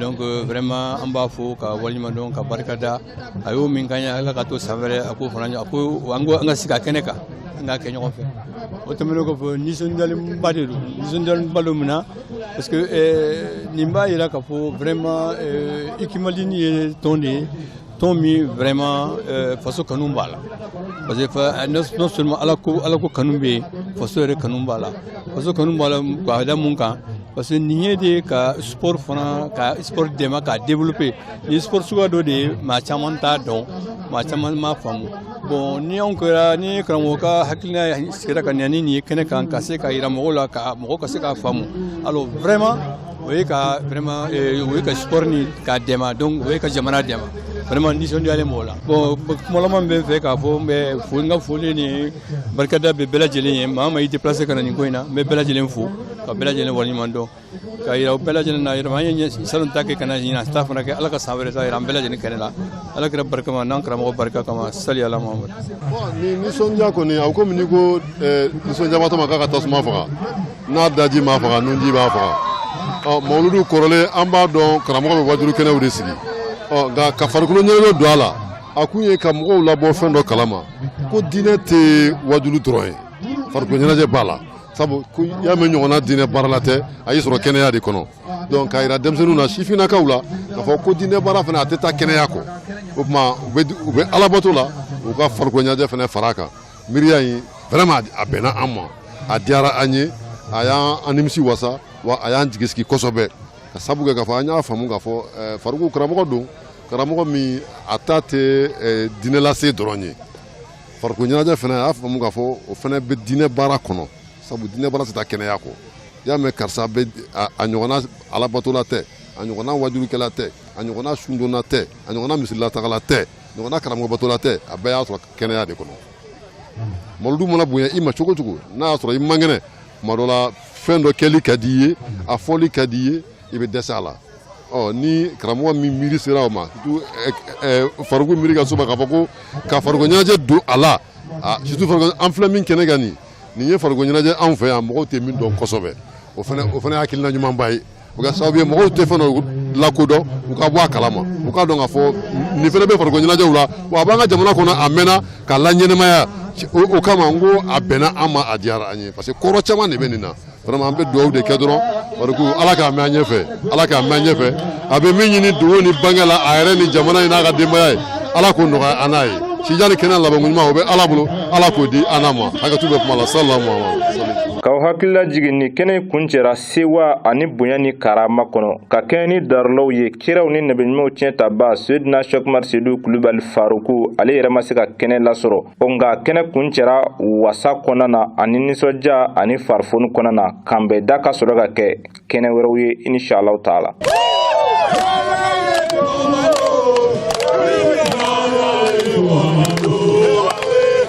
donc euh, vraiment an b'a fo k'a waleɲuman dɔn ka barika da a y'o min k'an ye ala k'a to san wɛrɛ a k'o fana a ko an ko an ka sigi a kɛnɛ kan an k'a kɛ ɲɔgɔn fɛ o tɛmɛnen kɔfɛ nisɔndiyalenba de don nisɔndiyalenba don mun na parce que euh, nin b'a yira k'a fɔ vraiment euh, ikimalini ye tɔn de ye tɔn min vraiment euh, faso kanu b'a la parce que euh, non seulement ala ko ala ko kanu bɛ yen faso yɛrɛ kanu b'a la faso kanu b'a la k'a da mun kan parce que nin ye de ka sport fana ka sport dɛmɛ k'a développer nin sport suguya dɔ de ye maa caman t'a dɔn maa caman m'a faamu bon ni a kɛra ni karamɔgɔ ka hakilina sigira ka na ni nin ye kɛnɛ kan ka se k'a yira mɔgɔw la ka mɔgɔ ka se k'a faamu alors vraiment o ye ka vraiment eh, o ye ka sport ni k'a dɛmɛ donc o ye ka jamana dɛmɛ vraiment nisɔndiyalen b'o la bon kuma laban bɛ n fɛ k'a fɔ n bɛ fo n ka foli ni barikada bɛ bɛɛ lajɛlen ye maa maa i déplacé ka na nin ko in na n bɛ bɛɛ lajɛlen fo ka bɛɛ lajɛlen waleɲuman dɔn k'a yira u bɛɛ lajɛlen na yɛrɛma an ye salon ta kɛ ka na ɲinan ta fana kɛ ala ka san wɛrɛ ta yira an bɛɛ lajɛlen kɛnɛ la ala kira barika ma n'an karamɔgɔ barika kama sali ala mamadu ni nisɔndiya kɔni a komi n'i ko eh, nisɔndiyabatɔ man kan ka tasuma faga n'a daji m'a faga nunji b'a faga ɔ mawuludu kɔrɔlen an b'a dɔn karamɔgɔ bɛ wajulu kɛnɛw de sigi ɔ nka ka farikolo ɲɛnajɛ don a la a kun ye ka mɔgɔw labɔ fɛn dɔ kalama ko diinɛ tɛ wajulu dɔrɔn ye farikolo ɲɛnajɛ b'a la sabu ko y'a mɛn ɲɔgɔnna diinɛ baarala tɛ a y'i sɔrɔ kɛnɛya de kɔnɔ donc k'a yira denmisɛnninw na sifinnakaw la k'a fɔ ko diinɛ baara fana a tɛ taa kɛnɛya kɔ o tuma u bɛ alabato la u ka farikolo ɲɛnajɛ fana fara a kan miiriya in vraiment a bɛnna an ma a diyara an ye a y'an an nimisi wasa wa a y'an jigi sigi kosɛbɛ ka sabu kɛ k'a fɔ an y'a faamu k'a fɔ eh, fariku karamɔgɔ don karamɔgɔ min a ta tɛ eh, diinɛ lase dɔrɔn ye farikolo ɲɛnajɛ fana a y'a faamu k'a fɔ o fana bɛ diinɛ baara kɔnɔ sabu diinɛ baara tɛ taa kɛnɛya kɔ i y'a mɛn karisa bɛ a- a ɲɔgɔnna alabatola tɛ a ɲɔgɔnna wajulukɛla tɛ a ɲɔgɔnna sundonna tɛ a ɲɔgɔnna misirilatagala tɛ ɲɔgɔnna karamɔgɔbatola tɛ a bɛɛ y'a sɔrɔ kɛnɛya de kɔnɔ mawuludu mana bonya i ma cogo o cogo n'a y'a sɔrɔ i man kɛnɛ tuma dɔ la fɛn dɔ kɛli ka di i ye a fɔli ka di i ye i bɛ dɛsɛ a la ɔ ni karamɔgɔ min miiri sera o ma surtout ɛ ɛ fariku miiri ka s'o ma k'a fɔ ko ka farikolo ɲɛnajɛ don a la a surtout farikolo an filɛ min kɛnɛ kan nin nin ye farikolo ɲɛnajɛ anw fɛ yan mɔgɔw tɛ min dɔn kosɛbɛ o fana o fana ye hakilina ɲumanba ye o ka sababu ye mɔgɔw tɛ fɛn dɔ lakodɔn u ka bɔ a kalama u k'a dɔn k'a fɔ nin fana bɛ farikolo ɲɛnajɛw la wa a b'an ka jamana kɔnɔ a mɛnna k'a laɲɛnamaya o kama n ko a bɛnna an ma a diyara an ye parce que kɔrɔ caman de bɛ nin na vraiment an bɛ dugawu de kɛ dɔrɔn fariku ala k'a mɛn an ɲɛfɛ ala k'a mɛn an ɲɛfɛ a bɛ min ɲini dogo ni bange la a yɛrɛ ni jamana in n'a ka denbaya ye ala k'o nɔgɔya an n'a ye sijan ni kɛnɛ labanko ɲuman o bɛ ala bolo ala k'o di an n'a ma hakɛto bɛ kuma la salalamu k'aw hakili lajigin nin kɛnɛ kun cɛra sewa ani bonya ni karama kɔnɔ ka kɛɲɛ ni darulaw ye kiraw ni nabiɲumanw tiɲɛtaba seyidina shɛki umar seyidu kulubali faruku ale yɛrɛ ma se ka kɛnɛ lasɔrɔ o nka kɛnɛ kuncɛra wasa kɔnɔna na ani nisɔndiya ani farifoni kɔnɔna na k'an bɛn da ka sɔrɔ ka kɛ kɛnɛ wɛrɛw ye inshallahu taala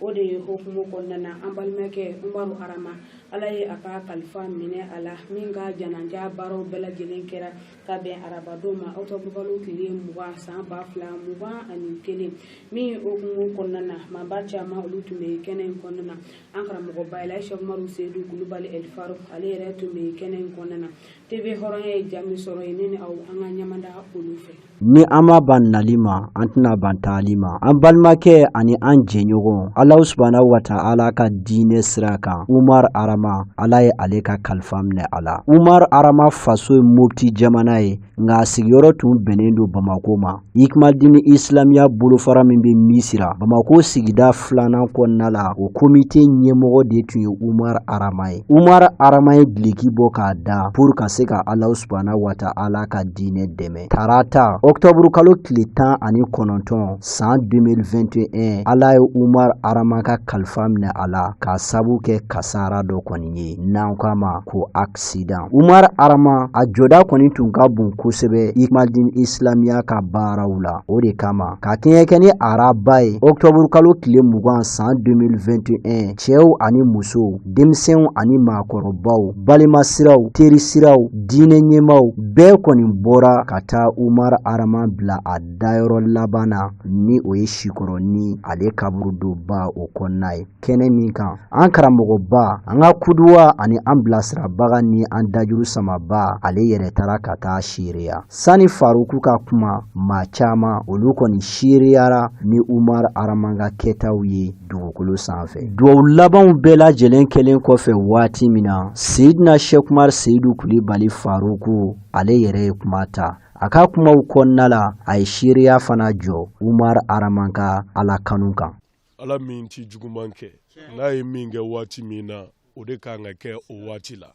o de ye hokumu kɔnɔna na an balimakɛ umaru arama ala ye a ka kalifa minɛ a la min ka janaja baaraw bɛɛ lajɛlen kɛra ka bɛn arabadon ma ɔtɔbukalo tile mugan san ba fila mugan ani kelen min hokumu kɔnɔna na maaba caman olu tun bɛ kɛnɛ in kɔnɔna na an karamɔgɔba eli shɛki umaru seyidu kulubali eli faruku ale yɛrɛ tun bɛ kɛnɛ in kɔnɔna na tv hɔrɔnya ye jaa min sɔrɔ yen ne ni aw an ka ɲamada olu fɛ Ni an ma ban nali ma an tɛna ban taali ma an balimakɛ ani an jɛɲɔgɔn alahu subhana wa ta'ala ka diinɛ sira kan umar arama ala ye ale ka kalifa minɛ a la umar arama faso ye mɔpti jamana ye nka a sigiyɔrɔ tun bɛnnen don bamakɔ ma ikmal diini isilamiya bolofara min bɛ misira bamakɔ sigida filanan kɔnɔna la o komite ɲɛmɔgɔ de tun ye umar arama ye umar arama ye dulɔki bɔ k'a da pur ka se ka alahu subhana wa ta'ala ka diinɛ dɛmɛ tarata ɔktɔburu kalo tile tan ani kɔnɔntɔn san 2021 ala ye umar arama ka kalifa minɛ a la k'a sabu kɛ kasara dɔ kɔni ye n'an k'a ma ko aksidan umar arama a jɔda kɔni tun ka bon kosɛbɛ ikmal diini isilamiya ka baaraw la o de kama ka kɛɲɛ kɛ ni araba ye ɔktɔburu kalo tile mugan san 2021 cɛw ani musow denmisɛnw ani maakɔrɔbaw balima siraw teri siraw diinɛ ɲɛmaw bɛɛ kɔni bɔra ka taa umar arama bila a dayɔrɔ laban na ni o ye sikɔrɔni ale kaburudoba o kɔnɔna ye kɛnɛ min kan an karamɔgɔba an ka kuduwa ani an bilasirabaga ni an dajuru samaba ale yɛrɛ taara ka taa seereya sani faruku ka kuma maa caman olu kɔni seereyara ni umar arama ka kɛtaw ye dugukolo sanfɛ dugaw labanw bɛɛ lajɛlen kɛlen kɔfɛ waati min na seyidina shɛki umar seyidu kulibali faruku ale yɛrɛ ye kuma ta a ka kumaw kɔnɔna la a ye seereya fana jɔ umar arama ka ala kanu kan ala min tɛ juguman kɛ n'a ye min kɛ waati min na o de kan ka kɛ o waati la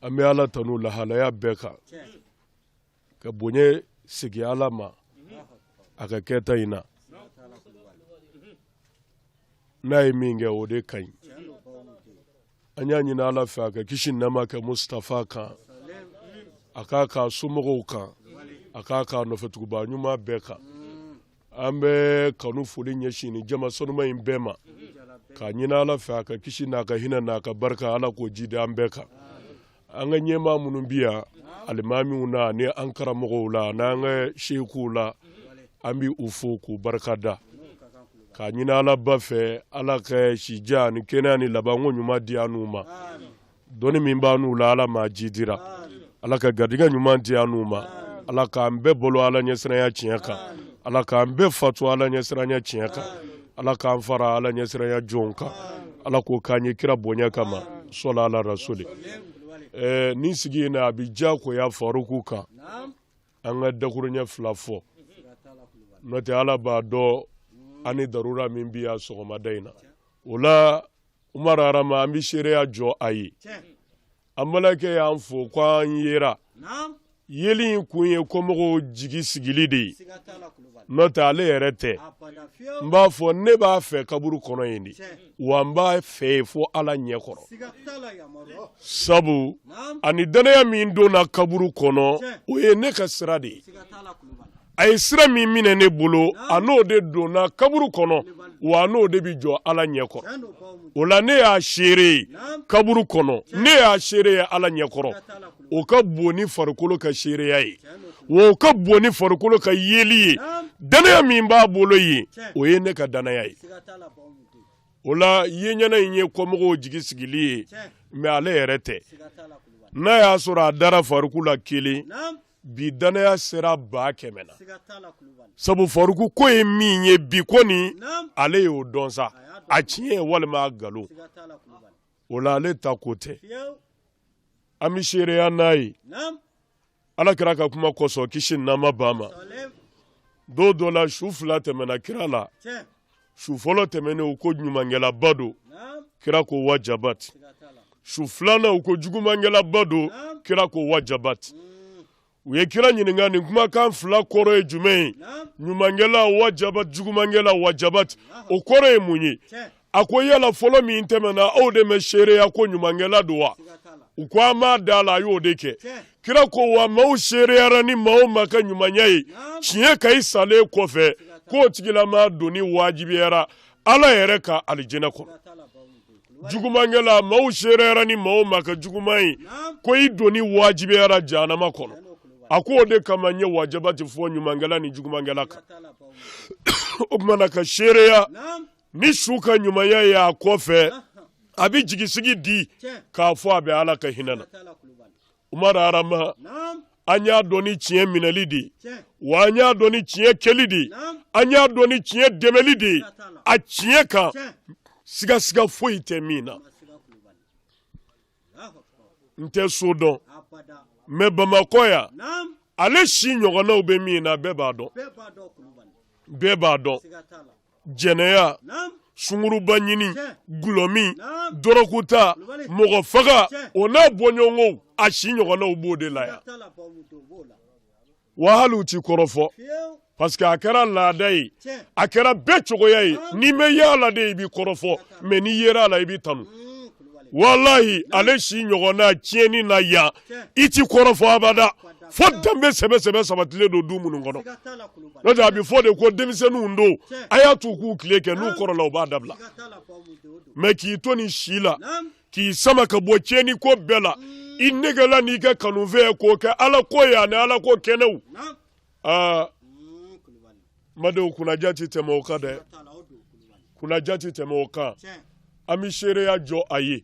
an bɛ ala tanu lahalaya bɛɛ kan ka bonya segin ala ma a ka kɛta in na n'a ye min kɛ o de ka ɲi an y'a ɲini ala fɛ a ka kisi ni nɛɛma kɛ mustafa kan a k'a k'a somɔgɔw kan a k'a k'a nɔfɛtuguba ɲuman bɛɛ kan An bɛ kanu foli ɲɛsin ni jama sanuma in bɛɛ ma k'a ɲini ala fɛ a ka kisi n'a ka hinɛ n'a ka barika ala k'o jidi an bɛɛ kan an ka ɲɛmaa minnu bi yan alimamiw na ni an karamɔgɔw la n'an ka sekuw la an bɛ u fo k'u barika da k'a ɲini alaba fɛ ala ka sijan ni kɛnɛya ni labanko ɲuman di an ma Dɔnni min b'an n'u la ala m'a jidira ala ka garijɛgɛ ɲuman di an n'u ma ala k'an bɛɛ balo ala ɲɛsiranya tiɲɛ kan ala k'an bɛɛ fatu ala ɲɛsiranya tiɲɛ kan ala k'an fara ala ɲɛsiranya jɔnw kan ala k'o k'an ye kira bonya kama sɔla ala rasuli ɛɛ nin sigi in na a bɛ diyagoya faruku kan an ka dakuruɲɛ fila fɔ n'o tɛ ala b'a dɔn an ni darura min bɛ yan sɔgɔmada in na o la umar arama an bɛ seereya jɔ a ye an balimakɛ y'an fo ko an yera yeli in kun ye kɔmɔgɔw jigi sigili de ye n'o tɛ ale yɛrɛ tɛ n b'a fɔ ne b'a fɛ kaburu kɔnɔ yen de wa n b'a fɛ yen fo ala ɲɛ kɔrɔ sabu a ni dannaya min donna kaburu kɔnɔ o ye ne ka sira de ye a ye sira min minɛ ne bolo a n'o de donna kaburu kɔnɔ wa n'o de bɛ jɔ ala ɲɛkɔrɔ o la ne y'a seere ye kaburu kɔnɔ ne y'a seere ye ala ɲɛkɔrɔ o ka bon ni farikolo ka seereya ye wa o ka bon ni farikolo ka yeli ye dannaya min b'a bolo ye o ye ne ka dannaya ye o la ye ɲɛna in ye kɔmɔgɔw jigi sigili ye mɛ ale yɛrɛ tɛ n'a y'a sɔrɔ a dara faruku la kelen bi dannaya sera ba kɛmɛ na sabu faruku ko ye min ye bi kɔni ale y'o dɔn sa a tiɲɛ walima a nkalon o la ale ta ko tɛ an bɛ seereya n'a ye ala kira ka kuma kosɔn kisi ni nɛɛma b'a ma don dɔ la su fila tɛmɛna kira la su fɔlɔ tɛmɛnen u ko ɲumankɛlaba don kira ko wajabati su filanan u ko jugumankɛlaba don kira ko wajabati mm. u ye kira ɲininka nin kumakan fila kɔrɔ ye jumɛn ye ɲumankɛla wajabati jugumankɛla wajabati o kɔrɔ ye mun ye a ko yala fɔlɔ min tɛmɛna aw de ma seereya ko ɲumankɛla don wa u ko an m'a da a la a y'o de kɛ kira ko wa maaw seereyara ni maa o maa ka ɲumanya ye tiɲɛ kan i salen kɔfɛ k'o tigilama donni wajibiyara ala yɛrɛ ka alijinɛ kɔnɔ jugumankɛla maaw seereyara ni maa o maa ka juguman ye ko i donni wajibiyara jahanama kɔnɔ a ko o de kama n ye wajabati fɔ ɲumankɛla ni jugumankɛla kan o tuma na ka seereya ni su ka ɲumanya ye a kɔfɛ a bɛ jigisigi di k'a fɔ a bɛ ala ka hinɛ na Umaru Arama an y'a dɔn ni tiɲɛ minɛli de ye wa an y'a dɔn ni tiɲɛ kɛli de ye an y'a dɔn ni tiɲɛ dɛmɛli de ye a tiɲɛ kan sigasiga foyi tɛ min na n tɛ so dɔn mɛ bamakɔ yan ale si ɲɔgɔnnaw bɛ min na bɛɛ b'a dɔn bɛɛ b'a dɔn jɛnɛya sunguruba ɲini dɔlɔmin dɔrɔgu ta mɔgɔ faga o n'a bɔɲɔgɔnkow a si ɲɔgɔnnaw b'o de la yan wa hali u t'i kɔrɔfɔ parce que a kɛra laada ye a kɛra bɛɛ cogoya ye n'i ma ye a la de i bɛ kɔrɔfɔ mɛ n'i yera a la i bɛ tanu walayi ale si ɲɔgɔnna tiɲɛni na yan i tɛ kɔrɔfɔ abada fo danbe sɛbɛ sɛbɛ sabatilen don du minnu kɔnɔ n'o tɛ a bɛ fɔ de ko denmisɛnninw don a y'a t'u k'u tile kɛ n'u kɔrɔla u b'a dabila mɛ k'i to nin si la k'i sama ka bɔ tiɲɛni ko bɛɛ la i negela n'i ka kanufɛn k'o kɛ ala ko ye ani ala ko kɛnɛw aa madenw kunnandiya tɛ tɛmɛ o kan dɛ kunnandiya tɛ tɛmɛ o kan an bɛ seereya jɔ a ye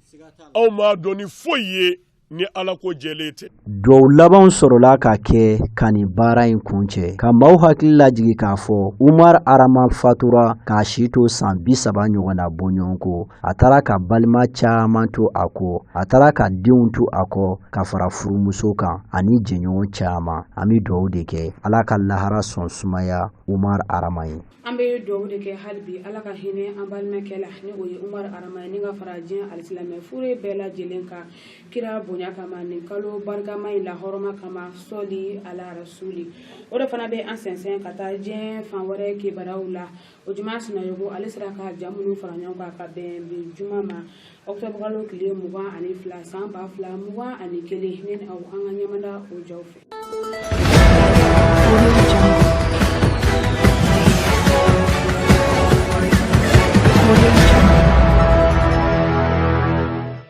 aw m'a dɔn ni foyi ye ni ala ko jɛlen tɛ dugawu labanw sɔrɔla ka kɛ ka nin baara in kuncɛ ka maaw hakili lajigi k'a fɔ umar arama fatura k'a si to san bi saba ɲɔgɔnna bɔɲɔgɔnko a taara ka balima caman to a kɔ a taara ka denw to a kɔ ka fara furumuso kan ani jɛɲɔgɔn caman an bɛ dugawu de kɛ ala ka lahara sɔn sumaya umar arama ye an bɛ dugawu de kɛ hali bi ala ka hinɛ an balimakɛ la ni o ye umar arama ye ni ka fara diɲɛ alisilamɛ fure bɛɛ lajɛlen kan kira bonya kama nin kalo barikama in lahɔrɔma kama sɔli ala rasuli o de fana bɛ an sɛnsɛn ka taa diɲɛ fan wɛrɛ kibaruyaw la ojuma sinayogo ale sera ka ja minnu fara ɲɔgɔn kan ka bɛn bi juma ma ɔkutɔbukalo tile mugan ani fila san ba fila mugan ani kelen ne ni aw an ka ɲɛmada o jaw fɛ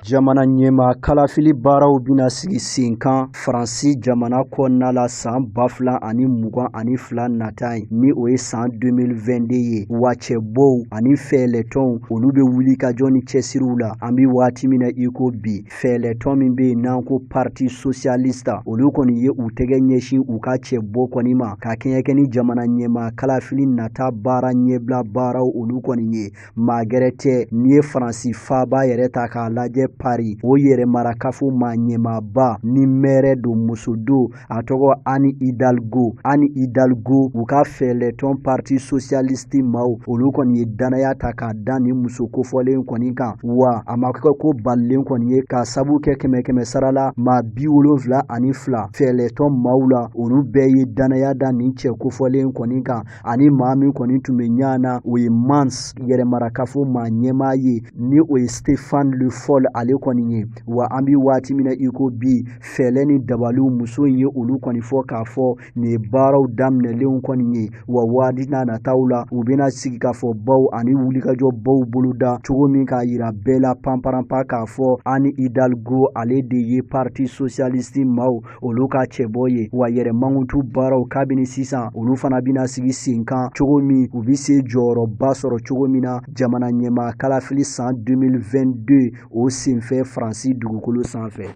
Jamana ɲɛmaa kalafili baaraw bɛna sigi sen kan faransi jamana kɔnɔna la san ba fila ani mugan ani fila nata ye ni o ye san 2022 ye wa cɛbɔw ani fɛɛlɛtɔnw olu bɛ wuli ka jɔ ni cɛsiriw la an bɛ waati min na i ko bi fɛɛlɛtɔn min bɛ yen n'an ko parti socialiste olu kɔni ye u tɛgɛ ɲɛsin u ka cɛbɔ kɔni ma ka kɛɲɛ kɛ ni jamana ɲɛmaa kalafili nata baara ɲɛbila baaraw olu kɔni ye Maa gɛrɛ tɛ n'i ye Faransi faaba yɛrɛ ta k'a lajɛ Paris o yɛrɛmarakafo maa ɲɛmaaba ni mɛɛrɛ don muso don a tɔgɔ Anne Hidalgo Anne Hidalgo u ka fɛɛlɛtɔn parti socialiste maaw olu kɔni ye dannaya ta k'a da nin muso kofɔlen kɔni kan wa a ma kɛ ko balilen kɔni ye k'a sabu kɛ kɛmɛ kɛmɛ sara la maa bi wolonfila ani fila fɛɛlɛtɔn maaw la olu bɛɛ ye dannaya da nin cɛ kofɔlen kɔni kan ani maa min kɔni tun bɛ ɲa na o ye Mans yɛrɛmarakafo maa ɲɛmaa ye ni o ye Stéphane Le Foll ale kɔni ye wa an bɛ waati min na i ko bi fɛɛlɛ ni dabaliw muso in ye olu kɔni fɔ k'a fɔ nin ye baaraw daminɛlenw kɔni ye wa waati n'a nataw la u bɛna sigikafɔbaw ani wulikajɔbaw boloda cogo min k'a yira bɛɛ la panparanpa k'a fɔ Anne Hidalgo ale de ye parti socialiste maw olu ka cɛbɔ ye wa yɛrɛ mankutu baaraw kabini sisan olu fana bɛna sigi sen kan cogo min u bɛ se jɔyɔrɔba sɔrɔ cogo min na jamana ɲɛmaa kalafili san 2022 o senfɛ faransi dugukolo sanfɛ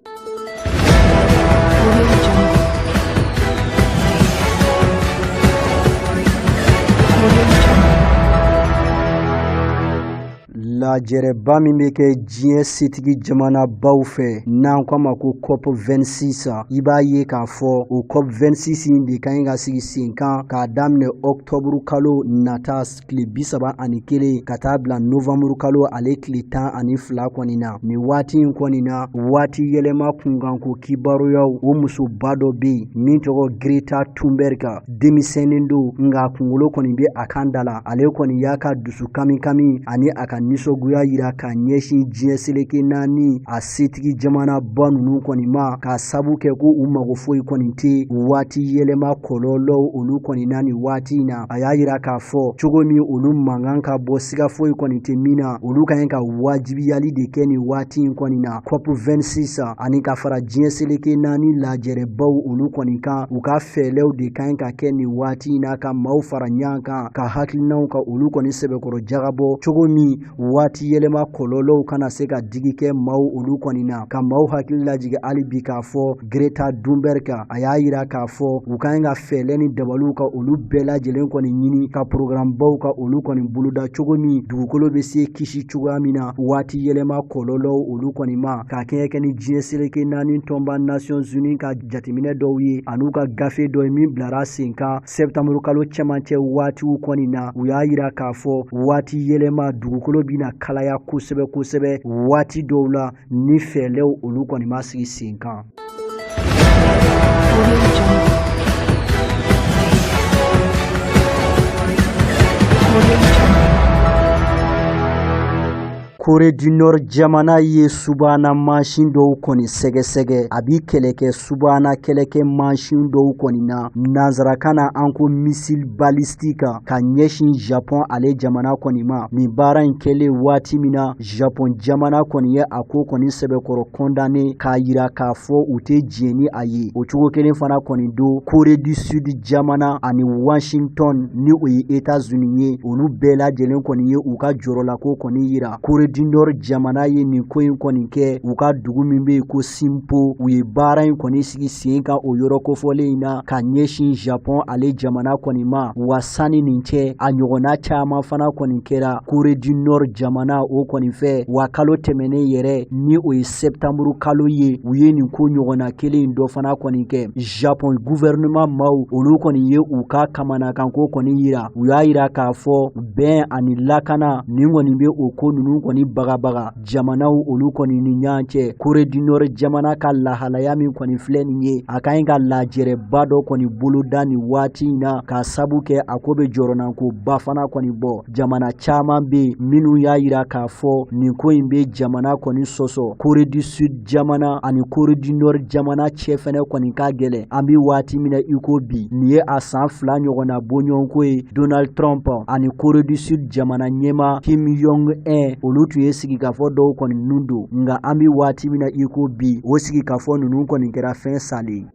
Lajɛrɛba min bɛ kɛ diɲɛ setigi jamanabaw fɛ n'an ko a ma ko COP 26 i b'a ye k'a fɔ o COP 26 in de ka ɲi ka sigi sen kan k'a daminɛ octobre kalo nata tile bi saba ani kelen ka taa bila novembre kalo ale tile tan ani fila kɔni na nin waati in kɔni na waati yɛlɛma kunkanko kibaruyaw o musoba dɔ bɛ yen min tɔgɔ Greta Thunberg denmisɛnnin don nka kunkolo kɔni bɛ a kan da la ale kɔni y'a ka dusu kami kami ani a ka nisɔngoya yira ka ɲɛsin diɲɛ seleke naani a setigi jamanaba ninnu kɔni ma k'a sabu kɛ ko u mago foyi kɔni tɛ waati yɛlɛma kɔlɔlɔw olu kɔni na nin waati in na a y'a yira k'a fɔ cogo min olu mankan ka bɔ siga foyi kɔni tɛ min na olu ka ɲi ka wajibiyali de kɛ nin waati in kɔni na COP 26 ani ka fara diɲɛ seleke naani lajɛrɛbaw olu kɔni kan u ka fɛɛlɛw de ka ɲi ka kɛ nin waati in na ka maaw fara ɲɔgɔn kan ka hakilinaw ka olu kɔni sɛbɛkɔrɔ jagabɔ cogo min waati yɛlɛma kɔlɔlɔw kana se ka digi kɛ maaw olu kɔni na ka maaw hakili lajigi hali bi k'a fɔ Greta Thunberg a y'a yira k'a fɔ u ka ɲi ka fɛɛlɛ ni dabaliw ka olu bɛɛ lajɛlen kɔni ɲini ka porogaramubaw ka olu kɔni boloda cogo min dugukolo bɛ se kisi cogoya min na waati yɛlɛma kɔlɔlɔw olu kɔni ma ka kɛɲɛ kɛ ni diɲɛ seleke naani tɔnba Nations Unies ka jateminɛ dɔw ye an'u ka gafe dɔ ye min bilara sen kan septembre kalo cɛmancɛ waatiw kɔni na u y'a yira k'a fɔ waati yɛlɛma dugukolo bɛna kalaya kosɛbɛ kosɛbɛ waati dɔw la ni fɛɛlɛw olu kɔni ma sigi sen kan Corée du Nord jamana ye subahana mansin dɔw kɔni sɛgɛsɛgɛ a bi kɛlɛ kɛ subahana kɛlɛkɛ mansin dɔw kɔni na nanzarakan na an ko missile balistique ka ɲɛsin Japon ale jamana kɔni ma nin baara in kɛlen waati min na Japon jamana kɔni ye a ko kɔni sɛbɛkɔrɔ condamné k'a yira k'a fɔ u tɛ diɲɛ ni a ye o cogo kelen fana kɔni don Corée du Sud jamana ani washington ni o ye etats unis ye olu bɛɛ lajɛlen kɔni ye u ka jɔrɔlako kɔni yira Corée du Nord jamana ye nin ko in kɔni kɛ u ka dugu min bɛ yen ko sinpo u ye baara in kɔni sigi sen kan o yɔrɔ kofɔlen in na ka ɲɛsin Japon ale jamana kɔni ma wa sanni nin cɛ a ɲɔgɔnna caman fana kɔni kɛra Corée du Nord jamana o kɔni fɛ wa kalo tɛmɛnen yɛrɛ ni o ye sɛptanburu kalo ye u ye nin ko ɲɔgɔnna kelen dɔ fana kɔni kɛ Japon guvɛrɛnɛman maw olu kɔni ye u ka kamanakanko kɔni yira u y'a yira k'a fɔ bɛn ani lakana nin kɔni be o ko nunu kɔni bagabaga jamanaw olu kɔni ni ɲɔgɔn cɛ Corée du Nord jamana ka lahalaya min kɔni filɛ nin ye a ka ɲi ka lajɛrɛba dɔ kɔni boloda nin waati in na k'a sabu kɛ a ko be jɔrɔnankoba fana kɔni bɔ jamana caaman be minw y'a yira k'a fɔ nin ko in be jamana kɔni sɔsɔ Corée du Sud jamana ani Corée du Nord jamana cɛ fɛnɛ kɔni ka gɛlɛn an be waati min na i ko bi nin ye a saan fila ɲɔgɔnna bɔɲɔgɔnko ye donald trump ani Corée du Sud jamana ɲɛma kim jong un olu tun ye sigikafɔ dɔw kɔni nunu don nka an be waati min na i ko bi o sigikafɔ nunu kɔni kɛra fɛn salen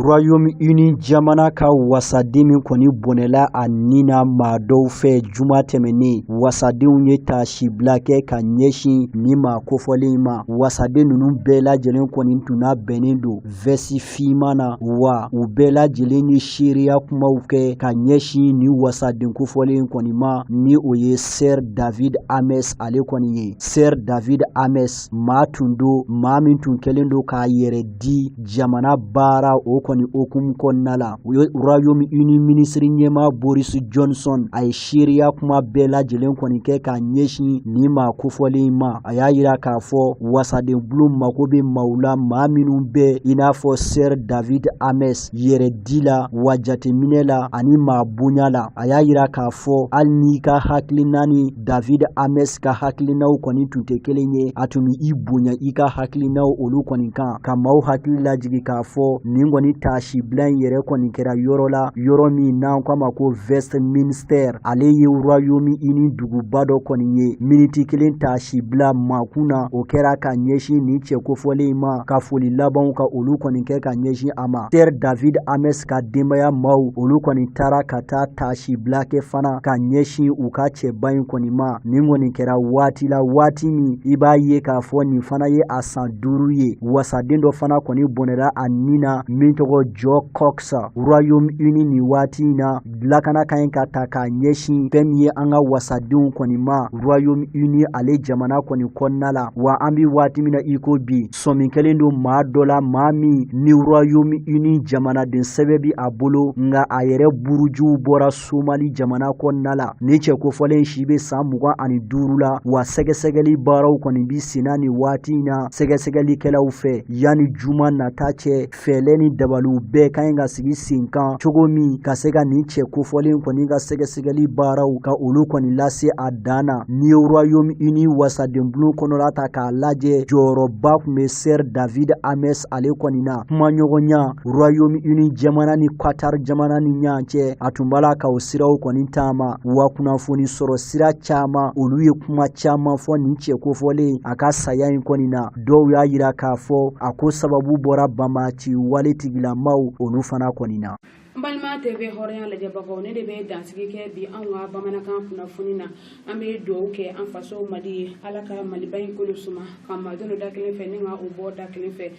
Royaume Uni jamana ka wasaden min kɔni bɔnɛla a ni na maa dɔw fɛ juma tɛmɛnen wasadenw ye taasibila kɛ ka ɲɛsin nin maa kofɔlen in ma wasaden ninnu bɛɛ lajɛlen kɔni tun nabɛnnen don vɛsi fiman na wa u bɛɛ lajɛlen ye seereya kumaw kɛ ka ɲɛsin nin wasaden kofɔlen kɔni ma ni o ye sir david amess ale kɔni ye sir david amess maa tun do maa min tun kɛlen do k'a yɛrɛ di jamana baara o kɔni hukumu kɔnɔna la u ye royaume uni minisiri ɲɛma boris johnson a ye seereya kuma bɛɛ lajɛlen kɔni kɛ ka ɲɛsin nin maa kofɔlen ma a y'a yira k'a fɔ wasaden bulon mako bɛ maaw la maa minnu bɛ i n'a fɔ sir david amess yɛrɛdi la wa jateminɛ la ani maa bonya la a y'a yira k'a fɔ hali n'i ka hakilina ni david amess ka hakilinaw kɔni tun tɛ kelen ye a tun bɛ i bonya i ka hakilinaw olu kɔni kan ka maaw hakili lajigi k'a fɔ nin kɔni taasibila in yɛrɛ kɔni kɛra yɔrɔ la yɔrɔ min n'an k'a ma ko westminster ale ye royaume uni duguba dɔ kɔni ye miniti kelen taasibila makun na o kɛra ka ɲɛsin nin cɛ kofɔlen in ma ka foli labanw ka olu kɔni kɛ ka ɲɛsin a ma sir david amess ka denbaya maaw olu kɔni taara ka taa taasi sibila kɛ fana ka ɲɛsin u ka cɛba in kɔni ma nin kɔni kɛra waati la waati min i b'a ye k'a fɔ nin fana ye a san duuru ye wasaden dɔ fana kɔni bɔnɛra a ni na min tɔgɔ jo cox royaume uni nin waati in na lakana ka ɲi ka ta k'a ɲɛsin fɛn min ye an ka wasadenw kɔni ma royaume uni ale jamana kɔni kɔnɔna la wa an bɛ waati min na iko bi sɔmi kɛlen don maa dɔ la maa min ni royaume uni jamanaden sɛbɛn bi a bolo nka a yɛrɛ burujuw bɔra somali jamana kɔnɔna la nin cɛ kofɔlen si bɛ san mugan ani duuru la wa sɛgɛsɛgɛli baaraw kɔni bi senna nin waati in na sɛgɛsɛgɛlikɛlaw fɛ yanni juma nata cɛ fɛɛlɛ ni dabaliw bɛɛ ka ɲi ka sigi sen kan cogo min ka se ka nin cɛ kofɔlen kɔni ka sɛgɛsɛgɛli baaraw ka olu kɔni lase a dan na n'i ye royaume uni wasadenbulon kɔnɔla ta k'a lajɛ jɔyɔrɔba tun bɛ sir david amess ale kɔni na kumaɲɔgɔnya royaume uni jamana ni qatar jamana ni ɲɔgɔn cɛ a tun b'a la ka o siraw kɔni taama wa kunnafoni sɔrɔ sira caman olu ye kuma caman fɔ nin cɛ kofɔlen a ka saya in kɔni na dɔw y'a yira k'a fɔ a ko sababu bɔra banbaanci wale tigilamaw olu fana kɔni na n balima tv hɔrɔnya lajɛbagaw ne de bɛ dansigi kɛ bi anw ka bamanankan kunnafoni na an bɛ dugawu kɛ an faso mali ye ala ka maliba in kolo suma ka maa don da kelen fɛ ni ka o bɔ da kelen fɛ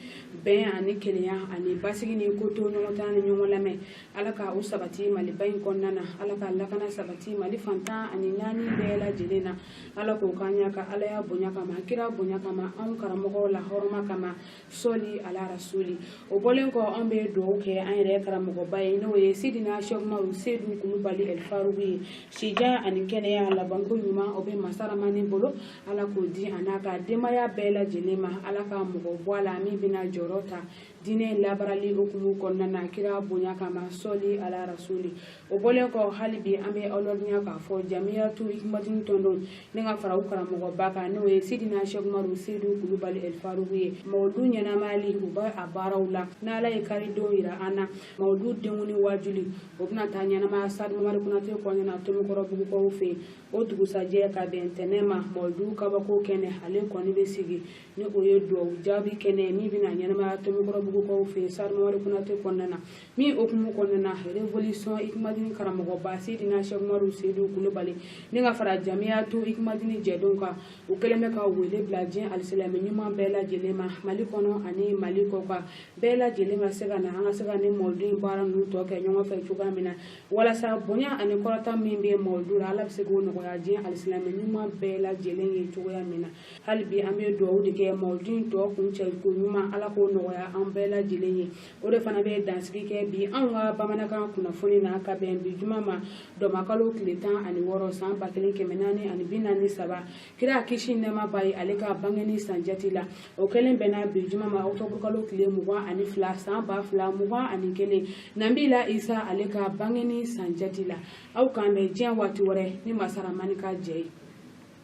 bɛn ani kelenya ani basigi ni kotoɲɔgɔntala ni ɲɔgɔn lamɛn ala ka u sabati maliba in kɔnɔna na ala ka lakana sabati mali fan tan ani naani bɛɛ lajɛlen na ala k'o k'an y'a ka alaya bonya kama kira bonya kama anw karamɔgɔw lahɔrɔma kama sɔli ala rasuli o bɔlen kɔ an bɛ dugawu kɛ an yɛrɛ karamɔgɔba ye n'o ye sidina sɛki umaru sedu kulubali ɛlifaruku ye si jan ani kɛnɛya labanko ɲuman o bɛ masa ramani bolo ala k'o di a n'a ka denbaya bɛɛ lajɛlen ma ala ka mɔgɔ bɔ a la min bɛna jɔyɔrɔ ta diinɛ labaarali hukumu kɔnɔna na kira bonya kama sɔli ala rasuli o bɔlen kɔ hali bi an bɛ aw ladɔnniya k'a fɔ jamiyatu hikmatini tɔndenw ni ka fara u karamɔgɔba kan n'o ye sidina sɛki umaru sedu kulubali ɛlfaruku ye mawudu ɲɛnamayali u bɛ a baaraw la n'ala ye karidon yira an na mawudu denkundi waajuli o bɛna taa ɲɛnamaya stade mamadou konaté kɔnɔna tomikɔrɔbugukaw fɛ yen o dugusajɛ ka bɛn ntɛnɛn ma mawudu kabako kɛnɛ ale kɔni bɛ sigi ni o ye duwawu jaabi kɛnɛ min bɛna ɲɛnamaya tomikɔrɔbugukaw fɛ yen stade mamadou konaté kɔnɔna na min hukumu kɔnɔna revolution hikimadini karamɔgɔba seydina sɛki umaru seyidu kulubali ni ka fara jamiyatu hikimadini jɛdenw kan u kɛlen bɛ ka wele bila diɲɛ alisilamɛ ɲuman bɛɛ lajɛlen ma mali kɔnɔ ani mali kɔkan bɛɛ lajɛlen ka se ka na an ka se ka nin mɔlidu in baara ninnu tɔ kɛ ɲɔgɔn fɛ cogoya min na walasa bonya ani kɔrɔta min bɛ mɔlidu la ala bɛ se k'o nɔgɔya diɲɛ alisilamɛ ɲuman bɛɛ lajɛlen ye cogoya min na hali bi an bɛ dugawu de kɛ mɔlidu in tɔ kuncɛ koɲuman ala k'o nɔgɔya an bɛɛ lajɛlen ye o de fana bɛ dansigi kɛ bi anw ka bamanankan kunnafoni na ka bɛn bi juma ma dɔnbakalo tile tan ani wɔɔrɔ san ba kelen kɛmɛ naani ani bi naani ni saba kira kisi nɛɛma b'a ye ale ka bangeni san jate la o kɛlen bɛnna bi juma ma ɔkutɔburukalo tile mugan ani fila san ba fila mugan ani kelen nabila isa ale ka bangeni san jate la aw k'an bɛn diɲɛ waati wɛrɛ ni masa ramani ka jɛn ye